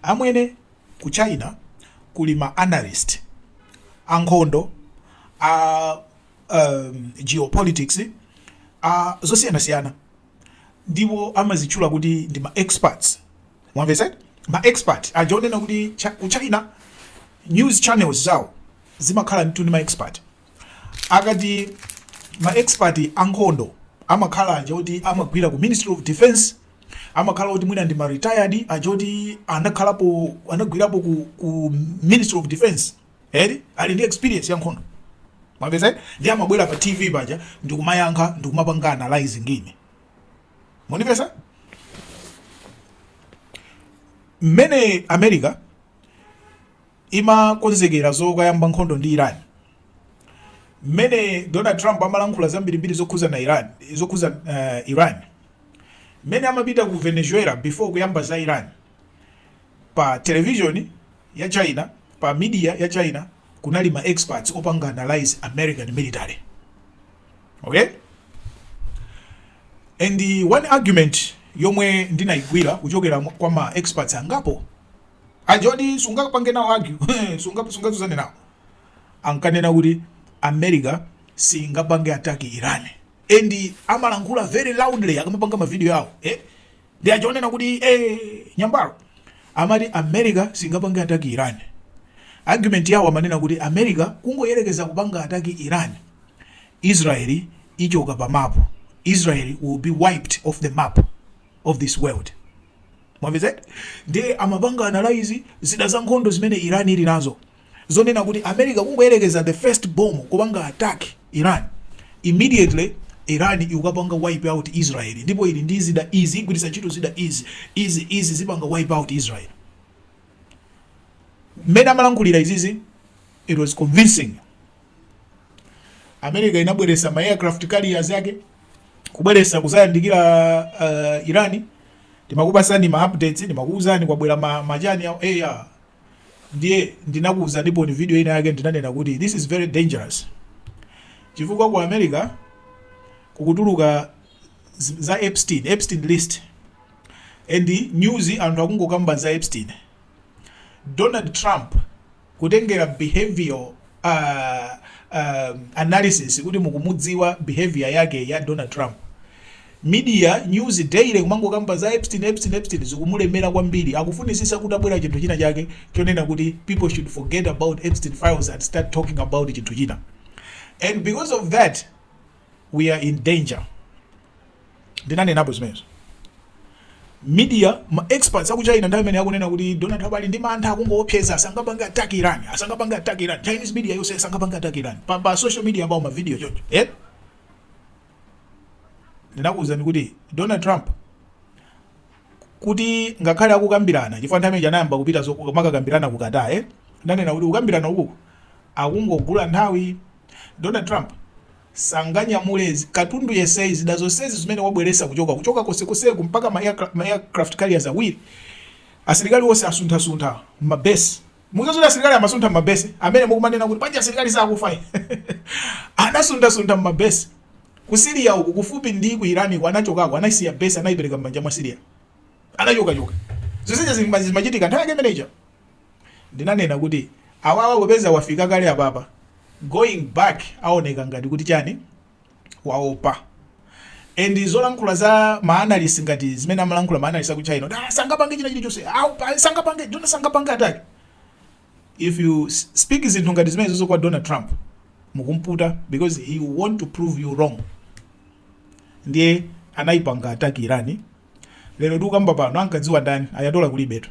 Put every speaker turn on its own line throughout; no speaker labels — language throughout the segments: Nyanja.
Amwene, ku China kuli ma analyst a nkhondo, a geopolitics, a zosiyanasiyana ndipo amazitchula kuti ndi ma experts. Mwamvetsa eti? Ma expert aja onena kuti ku China news channels zawo zimakhala ndithu ndi ma expert. Akati ma expert a nkhondo amakhala aja oti amagwira ku Ministry of Defence, amakhala oti mwina ndi ma retired aja oti anakhalapo anagwirapo ku, ku Ministry of Defence eri ali ndi experience ya nkhondo mwamvetsa ndi amabwera pa TV paja ndikumayankha ndikumapanga analyze ngini mwandimvetsa mmene America imakonzekera zokayamba nkhondo ndi Iran. Mmene Donald Trump amalankhula zambirimbiri zokhuzana Iran, zokhuza Iran, mmene amapita ku Venezuela before kuyamba za Iran, pa television ya China, pa media ya China kunali ma experts opanga analyze American military. Okay? And one argument yomwe ndinaigwira kuchokera kwa ma experts angapo aja oti sungapange nawo argue sunga sungatsutsane nawo ankanena kuti america singapange attack iran and amalankhula very loudly akamapanga mavidiyo awo eh? ndi aja onena kuti eh, nyambalo amati america singapange attack iran argument yawo amanena kuti america kungoyerekeza kupanga attack iran israeli ichoka pa mapu israeli will be wiped off the map of this world mwamvetsa ndiye amapanga analyze zida za nkhondo zimene iran ili nazo zonena kuti america kungoyerekeza the first bomb kupanga attack iran immediately iran ikukapanga wipe out israel ndipo ili ndi zida izi igwiritsa ntchito zida izi izi izi zipanga wipe out israel mmene amalankhulira izizi It was convincing. America inabweresa ma aircraft carriers yake kubweresa kuzayandikira uh, Irani ndimakupasani ma updates ndimakuuzani kwabwera ma machani ya AR ndiye ndinakuuza ndipo ni video ina yake ndinanena kuti this is very dangerous chifukwa ku America kukutuluka za Epstein Epstein list and news anthu akungokamba za Epstein Donald Trump kutengera behavioral aah analysis kuti mukumudziwa behaviour yake ya Donald Trump. Media, news daily kumangokamba za Epstein, Epstein, Epstein zikumulemera kwambiri akufunisisa kutabwera chinthu china chake chonena kuti people should forget about Epstein files and start talking about chinthu china and because of that we are in danger ndinanenapo zimenezo media ma experts aku China ndiye amene akunena kuti Donald Trump ali ndi mantha akungoopseza asangapange attack Iran asangapange attack Iran Chinese media yonse asangapange attack Iran pa, pa social media about ma video choncho eh ndinakuuzani kuti Donald Trump kuti ngakhale akukambirana chifukwa nthawi imene anayamba kupita zomakakambirana ku Qatar eh ndanena kuti kukambirana ukuku akungogula nthawi Donald Trump sanganyamule katundu yesei zida zonsezi zimene wabweresa kuchoka kuchoka kosekoseku mpaka ma aircraft carriers awiri asilikali wonse asunthasuntha mabesi muzaziti asilikali amasuntha mabesi amene mukumanena kuti panja asilikali sakufa anasunthasuntha mabesi ku Syria uku kufupi ndi ku Iraq ku anachokako anasiya besi anaipereka m'manja mwa Syria anachokachoka zonsezi zimachitika nthawi yake imeneja Ndinanena kuti awawa kupeza wafika kale apapa going back aoneka ngati kuti chani waopa and zolankhula za ma analyst ngati zimene amalankhula ma analyst aku China ah sangapange china chilichonse ah sangapange Donald sangapange attack if you speak zinthu ngati zimene zozo kwa Donald Trump mukumputa because he want to prove you wrong ndiye anayipanga attack Irani lero tikukamba pano ankadziwa ndani Ayatollah kulibetu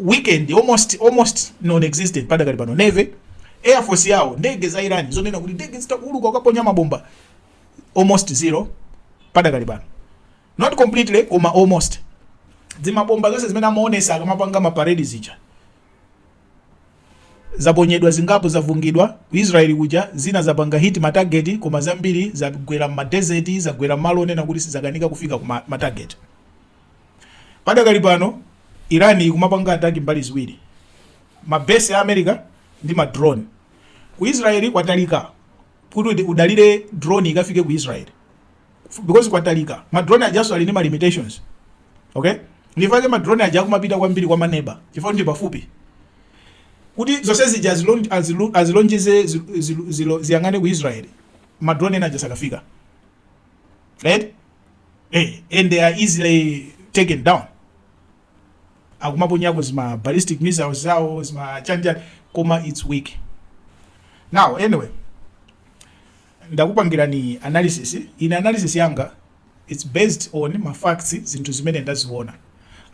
weakened almost almost non existent padakali pano navy air force yawo ndege za iran zonena kuti ndege zitha kuuluka kukaponya mabomba almost zero padakali pano not completely koma almost dzimabomba zonse zimene amaonesa akamapanga maparedi zija zaponyedwa zingapo zavungidwa ku israeli kuja zina zapanga hit matageti koma zambiri zagwera mmadeseti zagwera malo onena kuti zakanika kufika ku ma- matageti Padakali pano Iran ikumapanga attack mbali ziwiri, ma base ya America ndi ma drone. Ku Israel kwatalika kuti udalire drone ikafike ku Israel because kwatalika. Ma drone ajanso ali ndi ma limitations. Okay? Nchifake ma drone aja akumapita kwambiri kwa maneba chifukwa ndi pafupi. Kuti zonse zija azilonjeze ziyang'ane ku Israel, ma drone ena aja sakafika. Right? eh, and they are easily taken down akumaponyako zi ma ballistic missiles zawo zi ma chanichani koma it's weak now anyway ndakupangirani analysis ine analysis yanga it's based on ma facts zinthu zimene ndaziona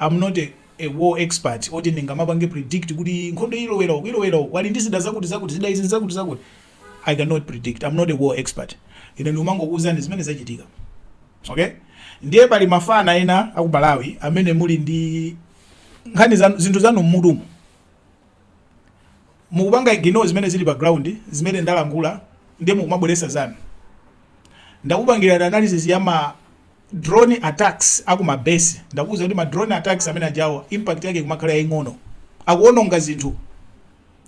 I'm not a, a war expert oti ndingamapange predict kuti nkhondo ilowera uku ilowera uku ali ndi zida zakuti zakuti zida izi zakuti zakuti I cannot predict, I'm not a war expert. Ine ndimangokuuzani zimene zachitika. Okay? Ndiye pali mafana ena aku Malawi amene muli ndi nkhani zanu zinthu zanu mmutumu. Mukupanga ignore zimene zili pa ground, zimene ndalankhula ndiye mukumabweresa zanu. Ndakupangira analysis ya ma drone attacks aku ma base. Ndakuuza kuti ma drone attacks amene ajawo impact yake kumakhala yaing'ono. Akuononga zinthu.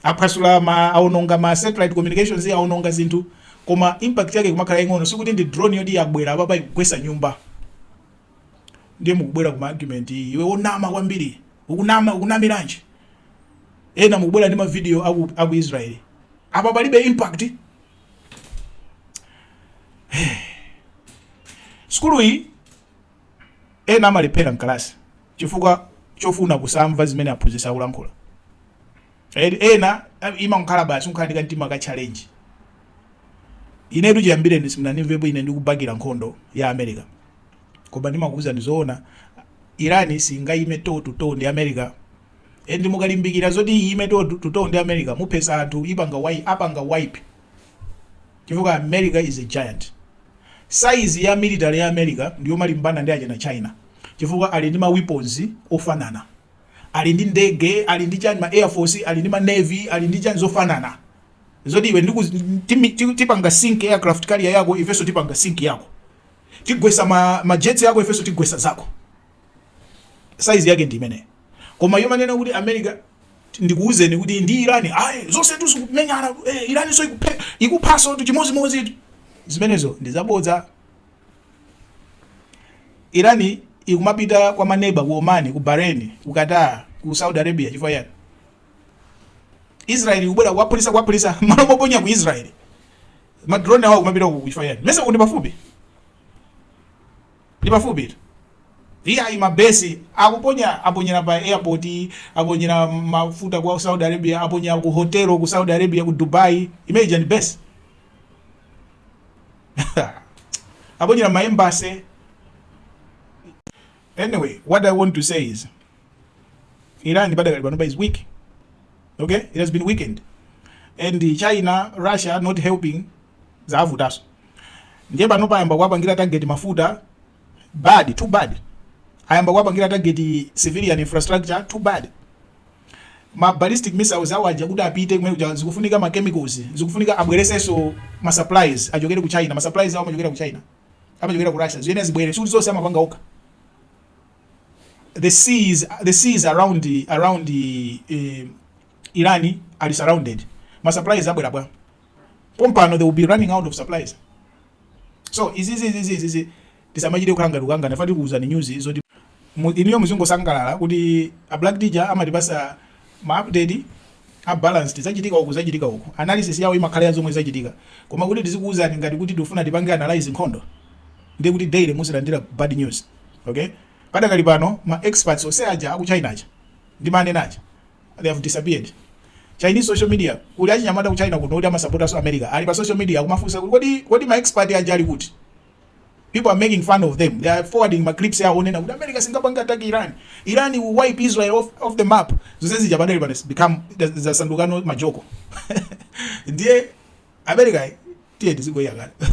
Aphwasula ma, aononga ma satellite communications, aononga zinthu, koma impact yake ikumakhala yaing'ono. Sikuti ndi drone yoti yabwera apapa ikugwetsa nyumba. Ndiye mukubwera ndi ma argument, iwe wonama kwambiri, ukunama, ukunamiranji? Ena mukubwera ndi ma video aku, aku Israel. Apa palibe impact. Sukulu iyi ena amalepherera mkalasi chifukwa chofuna kusamva zimene aphunzitsi akulankhula. Ed- ena eh, imangokhala basi kukhala ndi kamtima ka challenge inetu chiyambireni simunanimvepo ine ndikubakira nkhondo ya america koma ndimakuuza ndizoona Iran singayime toe to toe ndi america and mukalimbikira zoti iyime toe to toe ndi america muphesa anthu ipanga wipe apanga wipe chifukwa America is a giant. Size ya military ya America ndiyomalimbana ndi achina China chifukwa ali ndi ma weapons ofanana, ali ndi ndege, ali ndi chani ma air force, ali ndi ma navy, ali ndi chani zofanana zoti iwe tipanga sink aircraft carrier yako ifeso tipanga sink yako tigwesa ma, ma jets yako ifeso tigwesa zako size yake ndi imeneyo. Koma yomanena kuti America ndikuuzeni kuti ndi Iran ayi zonsetu zikumenyana eh, Iranso ikuphe ikuphasotu chimozimozitu zimenezo ndi zabodza Iran ikumapita kwa maneba ku Oman ku Bahrain ku Qatar ku Saudi Arabia chifukwa chani Israel ikubwera kuwaphulisa kuwaphulisa malo moponya ku Israel madrone awo kumapita ku chifukwa chani mesa ndi pafupi Ndi pafupitu. Iyayi ma base akuponya aponyera pa airport, aponyera mafuta kwa Saudi Arabia, aponyera ku hotel ku Saudi Arabia ku Dubai, imene ija ndi base? aponyera ma embassy. Anyway, what I want to say is Iran padakali pano is weak. Okay? It has been weakened. And China, Russia not helping zavutaso ndiye panopa ayamba kuwapangira target mafuta bad too bad ayamba kuwapangira target civilian infrastructure too bad ma ballistic missiles awo aja kuti apite kumene kuja zikufunika ma chemicals zikufunika abweretsenso ma supplies achokere ku China ma supplies awo amachokera ku China amachokera ku Russia ziyenera zibwere sikuti zonse amapanga okha the seas the seas around around uh, Iran are surrounded ma supplies abwera bwa pompano they will be running out of supplies so izizi izizi izizi tisamachite kukhala ngati kukangana nafe tikuuzani news zoti mu- inuyo muzingosangalala kuti a black teacher amatipasa ma update a balanced zachitika uku zachitika uku analysis yawo imakhala ya zomwe zachitika koma kuti tizikuwuzani ngati kuti tifuna tipange analyze nkhondo ndiye kuti daily muzilandira bad news okay padakali pano ma experts onse aja aku china aja ndi manena aja they have disappeared chinese social media kuli achinyamata ku china kuno oti amasapotanso america ali pa social media akumafunsa kuti kodi kodi ma expert aja ali kuti people are making fun of them they are forwarding ma clips awo onena kuti america singapange attack iran iran will wipe israel off, off the map zonse zija panopa zabecome zasanduka majoko ndiye america tiye tizingoyang'ana